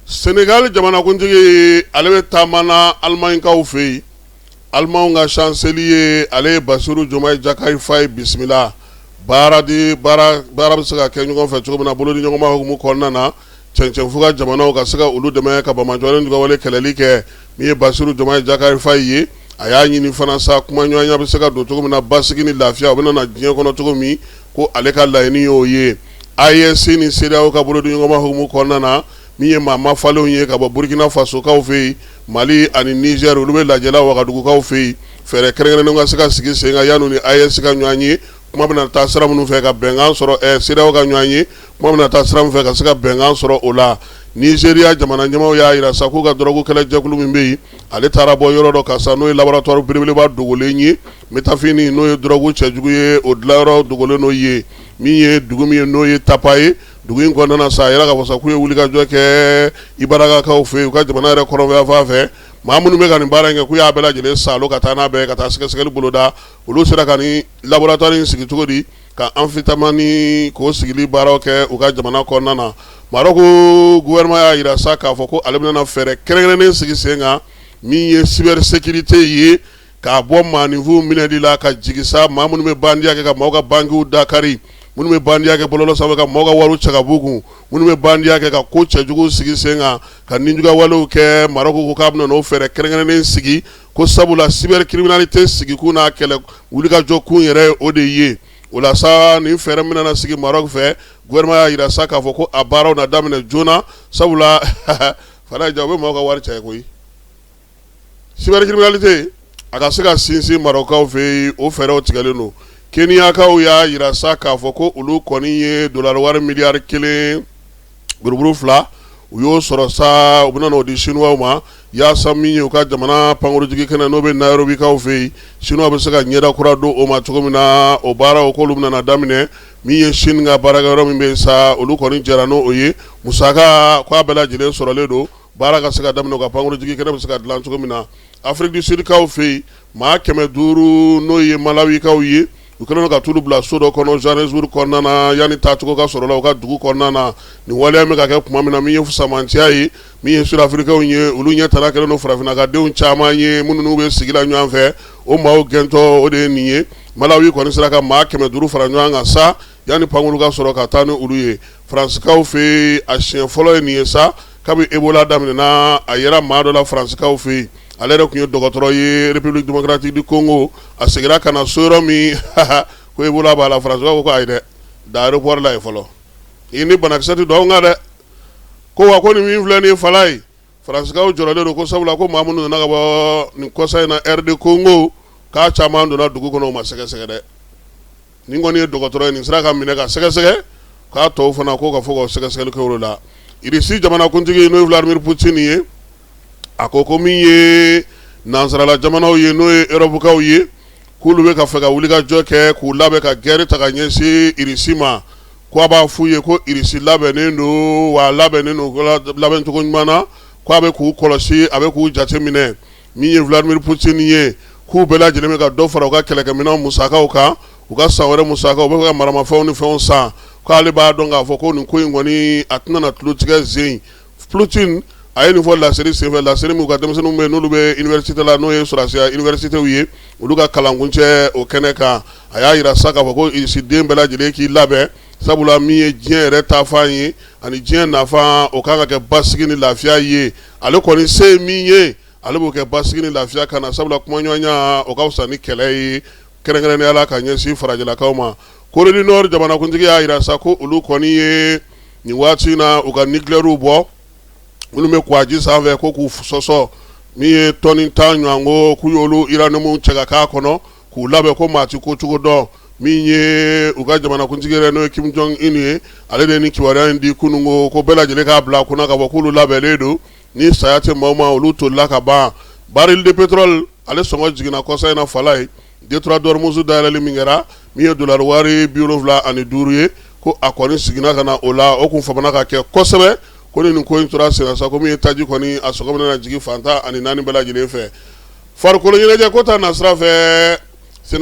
Senegali jamanakuntigi ale bɛ taama na Alimaɲikaw fɛ yen, Alimaɲw ka chancelier ale ye Basiru Diomaye Diakhar Faye bisimila baara di baara bɛ se ka kɛ ɲɔgɔn fɛ cogo min na bolodiɲɔgɔnma hukumu kɔnɔna na cɛncɛnfuga jamanaw ka se ka olu dɛmɛ ka Bama jɔlen ni dugawale kɛlɛli kɛ Min ye Basiru Jomayi Jakari Fayi ye, a y'a ɲini fana sa kumaɲɔgɔnya bɛ se ka don cogo min na basigi ni lafiya o bɛna na diɲɛ kɔnɔ cogo min, ko ale ka laɲini y'o ye. AES ni CEDEAO ka bolodiɲɔgɔnma hukumu kɔnɔna na, min ye maa mafalenw ye ka bɔ Burkina Fasokaw fɛ yen, Mali ani Niger, olu bɛ lajɛ la Wagadugukaw fɛ yen, fɛɛrɛ kɛrɛnkɛrɛnnenw ka se ka sigi sen kan yanni u ni AES ka ɲɔgɔn ye. kuma bɛna taa sira minnu fɛ ka bɛnkan sɔrɔ ɛ CEDEAO ka ɲɔgɔn ye kuma bɛna taa sira min fɛ ka se ka bɛnkan sɔrɔ o la Nigeria jamana ɲɛmaaw y'a jira sa k'u ka dɔrɔgu kɛlɛjɛkulu min bɛ yen ale taara bɔ yɔrɔ dɔ kan sa n'o ye laboratoire belebeleba dogolen ye metafini n'o ye dɔrɔgu cɛjugu ye o dilanyɔrɔ dogolen n'o ye min ye dugu min ye n'o ye Tapa ye dugu in kɔnɔna sa a yɛrɛ ka fɔ sa k'u ye wulikajɔ kɛ Ibarapakaw fɛ yen u ka jamana yɛrɛ kɔrɔn fɛ yanfan fɛ maa minnu bɛ ka nin baara in kɛ k'u y'a bɛɛ lajɛlen sa ka taa n'a bɛɛ ka taa sɛgɛsɛgɛli boloda olu sera ka nin laboratoire in sigi cogo di ka amphétamine k'o sigili baaraw kɛ u ka jamana kɔnɔna na Marɔku gouvernement y'a jira sa k'a fɔ ko ale bɛna fɛɛrɛ kɛrɛnkɛrɛnnen sigi sen kan min ye cybersécurité ye k'a bɔ maaninfin minɛli la ka jigin sa maa minnu bɛ bandiya kɛ ka maaw ka bankiw dakari minnu bɛ bandiya kɛ bɔlɔlɔ sanfɛ ka maaw ka wari cɛ ka b'u kun minnu bɛ bandiya kɛ ka ko cɛjugu sigi sen kan ka ninjuguya walew kɛ Marɔku ko k'a bɛna n'o fɛɛrɛ kɛrɛnkɛrɛnnen sigi ko sabula cybercriminalité sigikun n'a kɛlɛ wulikajɔ kun yɛrɛ o de ye o la sa nin fɛɛrɛ min na sigi Marɔku fɛ gouvernement y'a jira sa k'a fɔ ko a baaraw na daminɛ joona sabula fa ja u bɛ maaw ka wari cɛ koyi cybercriminalité a ka se ka sinsin Marɔkukaw fɛ yen o fɛɛrɛw tigɛlen don Keniyakaw y'a jira sa k'a fɔ ko olu kɔni ye dolari wari miliyari kelen buruburu fila u y'o sɔrɔ sa u bɛna n'o di Sinuwaw ma yaasa min ye u ka jamana pankurunjiginkɛnɛ n'o bɛ Nairobikaw fɛ yen Sinuwaw bɛ se ka ɲɛda kura don o ma cogo min na o baaraw k'olu bɛna na daminɛ min ye Sini ka baarakɛyɔrɔ min bɛ sa olu kɔni jɛra n'o o ye musaka k'a bɛɛ lajɛlen sɔrɔlen don baara ka se ka daminɛ u ka pankurunjiginkɛnɛ bɛ se ka dilan cogo min na Afrique du Sudkaw fɛ yen maa kɛmɛ duuru n'o ye Malawikaw ye u kɛlen don ka t'olu bila so dɔ kɔnɔ Johannesburg kɔnɔna yanani taacogo ka sɔrɔ la u ka dugu kɔnɔna na nin waleya min ka kɛ tuma min na min ye fusamanciya ye min ye Sud Afrikikaw ye olu ɲɛtana kɛlen don farafinkadenw caman ye minnu n'u bɛ sigi la ɲɔgɔn fɛ o maaw gɛntɔ o de ye nin ye Malawi kɔni sera ka maa kɛmɛ duuru fara ɲɔgɔn kan sa yanani pankurun ka sɔrɔ ka taa ni olu ye Faransikaw fɛ a siɲɛ fɔlɔ ye nin ye sa kabini ebola daminɛna a yera maa dɔ la faransikaw fɛ yen ale yɛrɛ tun ye dɔgɔtɔrɔ ye république démocratique du congo a seginna ka na so yɔrɔ min ko ebola b'a la faransikaw ko ayi dɛ da aéroport la ye fɔlɔ i ni banakisɛ tɛ don an kan dɛ ko wa ko nin min filɛ nin fala ye faransikaw jɔrɔlen don ko sabula ko maa minnu nana ka bɔ nin kɔsa in na RD congo k'a caman donna dugu kɔnɔ o ma sɛgɛsɛgɛ dɛ nin kɔni ye dɔgɔtɔrɔ ye nin sera ka minɛ ka sɛgɛsɛgɛ k'a tɔw fana ko ka fɔ ka sɛgɛsɛgɛli kɛ o la irisi jamanakuntigi n'o ye vladimir poutine ye a ko ko min ye nansarala jamanaw ye n'o ye erɔpukaw ye k'olu bɛ ka fɛ ka wulikajɔ kɛ k'u labɛn ka gɛrɛ ta ka ɲɛsin irisi ma ko a b'a f'u ye ko irisi labɛnnen don wa labɛnnen don labɛncogo ɲuman na ko a bɛ k'u kɔlɔsi a bɛ k'u jate minɛ Min ye Vladimir Poutine ye k'u bɛɛ lajɛlen bɛ ka dɔ fara u ka kɛlɛkɛminɛnw musakaw kan, u ka san wɛrɛ musakaw, u bɛ fɛ ka maramafɛnw ni fɛnw san, k'ale b'a dɔn k'a fɔ ko nin ko in kɔni a tɛna na tulotigɛ sen in. Poutine a ye nin fɔ laseli senfɛ, laseli min u ka denmisɛnninw bɛ n'olu bɛ université la, n'o ye sɔrasiya universitéw ye, olu ka kalankuncɛ o kɛnɛ kan. A y'a jira sa k'a fɔ ko Irisi den bɛɛ lajɛlen k'i labɛn, sabula min ye diɲɛ yɛrɛ taafan ye, ani diɲɛ nafan, o ka kan ka kɛ basigi ni lafiya ye. ale kɔni se min ye ale b'o kɛ basigi ni lafiya ka na sabula kumaɲɔgɔnya o ka fisa ni kɛlɛ ye kɛrɛnkɛrɛnnenya la ka ɲɛsin farajɛlakaw ma corée du nord jamanakuntigi y'a jira sa ko olu kɔni ye nin waati in na u ka nucléaires bɔ minnu bɛ kuwaji sanfɛ ko k'u sɔsɔ min ye tɔni tan ɲɔgɔn ko k'u y'olu uranium cɛ ka k'a kɔnɔ k'u labɛn ko maa ti ko cogo dɔn min ye u ka jamanakuntigi yɛrɛ n'o ye kim jong un ye ale de ye nin kibaruya in di kunungo ko bɛɛ lajɛlen k'a bila a kunna ka fɔ k'olu labɛnnen don ni saya tɛ maa o maa olu tolila ka ban baril de pétrole ale sɔngɔ jiginna kɔsa in na fala ye détroit d'ormuz dayɛlɛli min kɛra min ye dolari wari bi wolonwula ani duuru ye ko a kɔni seginna ka na o la o tun famana ka kɛ kosɛbɛ ko ni ko in tora sen na sa ko min ye taji kɔni a sɔngɔ bɛna jigin fan tan ani naani bɛɛ lajɛlen fɛ farikoloɲɛnajɛ ko ta nasira fɛ sen